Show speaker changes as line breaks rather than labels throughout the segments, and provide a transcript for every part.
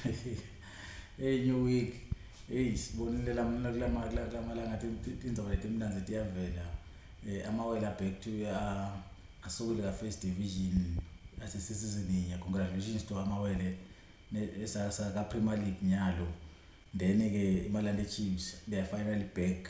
Hey new week. Hey sibonile lamna kulama kulamalanga tindzaba letimnanzi tiyavela. Eh amawela back to uh, asukile ka first division asesisizini nye. Congratulations to amawele esasa ka Premier League nyalo. Then ke iMalande Chiefs they are finally back.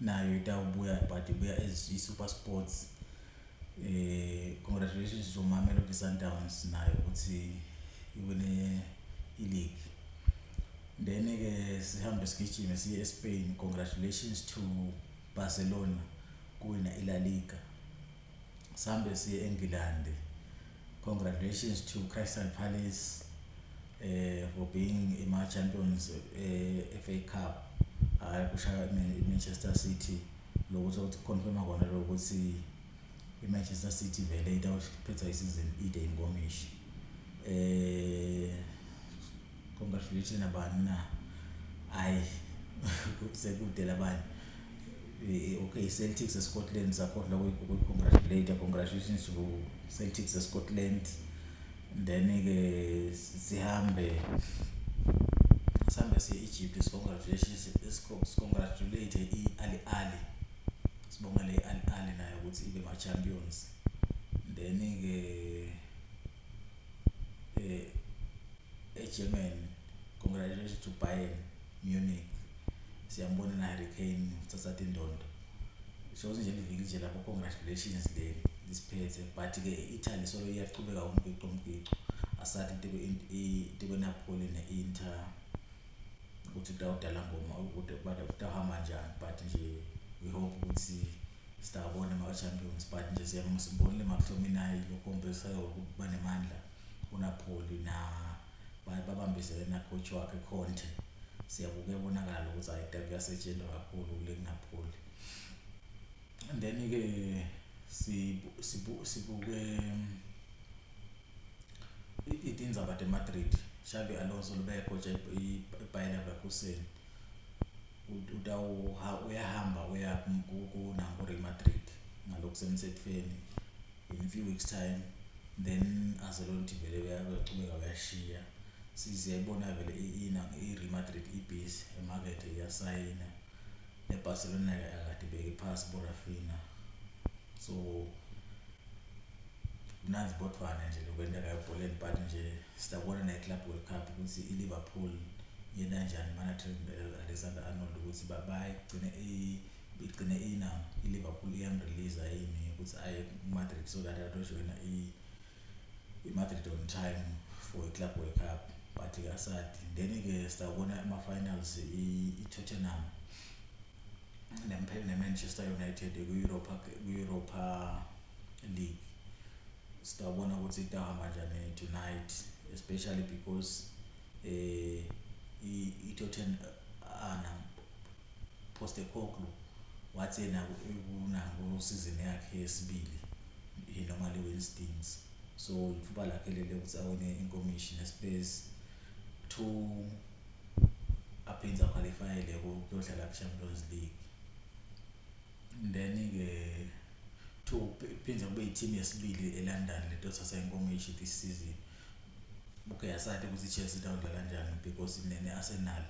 nayo itawubuya but ibuya as i-super sports eh congratulations to mamelodi sundowns nayo ukuthi iwine i-league then-ke sihambe sigijime siye espain congratulations to barcelona kuwina ila liga Sambe siye eNgilandi. Congratulations to Crystal Palace eh for being ima champions eh FA Cup. Hayi kushaya iManchester City lokuthi ukuthi confirma kona lokuthi iManchester City vele itawuphetha isizini ide inkomishi. Eh Congratulations nabani na. Hayi sekude labanye. Eh, okay Celtics eScotland sakhohlwa kuyicongratulate congratulations to Celtics eScotland then ke sihambe sihambe siye-Egypt sicongratulations sicongratulate i-Ali Ali sibongele i-Ali Ali nayo ukuthi ibe ma-champions then ke eh, eGermany congratulations to Bayern Munich siyambona na Harry Kane uthatha indondo shows nje liviki nje lapho congratulations le lisiphethe but ke Italy solo iyaqhubeka umbhiqo umbhiqo asathi into into kweNapoli ne-Inter ukuthi kudawudala ngoma ukuthi badawuhamba njani but nje we hope ukuthi Stabone ma champions but nje siyabonga simbonile McTominay lokhombisa ukuba nemandla uNapoli na baye babambisele na coach wakhe Conte siyabuke bonakala ukuthi ayida kuyasetshenzwa kakhulu kule Napoli and then ke sibu sibu sibuke itindzaba de Madrid Xabi Alonso lubekho nje iBayer Leverkusen uyahamba uya kuNankori Matric ngalokhu semthethweni in a few weeks time then azelonthi vele uyaqhubeka uyashiya siziyayibona vele i-real madrid ibhizi emakethe iyasayina nebarcelona akade ibeke phasi borafina so mnandi bodvwana nje lokwentekayo ebholeni but nje Sizabona naye Club World Cup ukuthi iLiverpool yena njani manager Alexander Arnold ukuthi babaye kugcine igcine ina iLiverpool iyamrelease yini ukuthi aye kuMadrid so that ayojoyina iMadrid on time for iClub World Cup but ke asadi then ke sizabona ama-finals i-Tottenham neMpel neManchester United kwi-Europa kwi-Europa league sitawubona ukuthi itahamba njani tonight especially because eh itothen ana poste koklu wathi yena kunango season yakhe yesibili he normally wins things so ithuba lakhe lele ukuthi awine inkomishi nespace to aphinde aqualifyele kuyodlala ku-champions league then ke to phinde kube i-team yesibili eLondon lento thatha inkomishi this season okay asade ukuthi i-Chelsea idawudlala kanjani because nene-Arsenal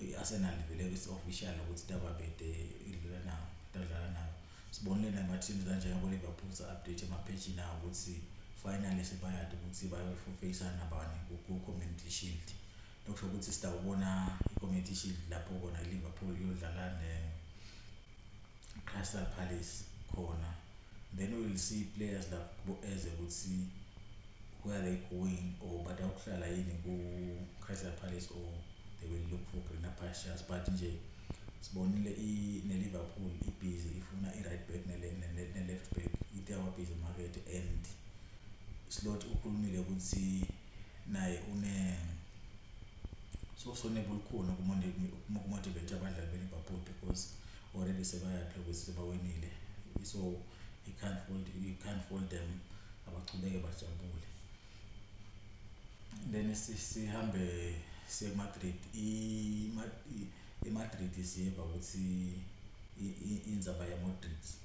i-Arsenal vele it's official ukuthi dababede idlala nawo idlala nawo sibonile nama-teams kanjengabo Liverpool sa-update ema-page nawo ukuthi finally sebayade ukuthi bayofufeyisana nabani ku-community shield Okusho ukuthi sitawubona ikomiti ishili lapho kona i-Liverpool iyodlala ne-Crystal Palace khona then we will see players lapho kubo-eze ukuthi where they going or batawuhlala yini ku-Crystal Palace or they will look for greener pastures but nje sibonile ne-Liverpool ibhizi ifuna i-right back ne-left back ite wabhizi market and slot ukhulumile ukuthi naye une sokusoneba olukhulu ukumotivate abadlali beliverpool because already sebayaphi ukuthi sebawinile so you can't hold, you can't hold them abachubeke bajabule then sihambe siye kumadrid imadrid siye bakuthi inzaba yamodrids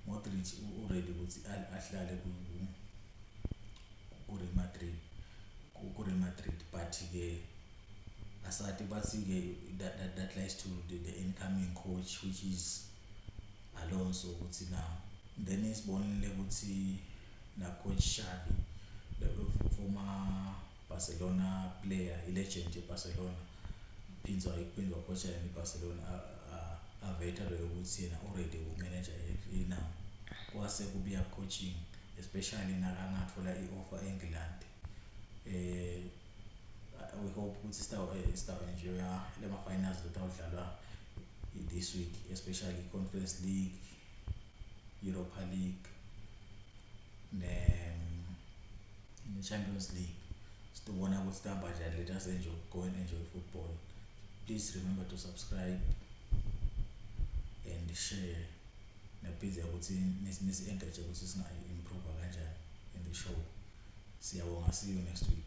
Modric uready ukuthi ahlale ku Real Madrid ku Real Madrid but ke asati bathi ke that, that, that lies to the, the incoming coach which is Alonso ukuthi na then isibonile ukuthi na coach Xavi the former Barcelona player i legend ye Barcelona phinzwa iphinzwa coacha yona i Barcelona aveta vele ukuthi yena u ready uku manager i now kwase kubuya coaching especially nakangathola i offer england eh we hope ukuthi sitawu eh, sitawu enjoy lema finals lotawudlalwa this week especially conference league europa league ne in the Champions League sitobona ukuthi sihamba kanjani let us enjoy go and enjoy football please remember to subscribe and share nabhiza ukuthi nisi-engage ukuthi singayi-improve kanjani in the show siyabonga see you next week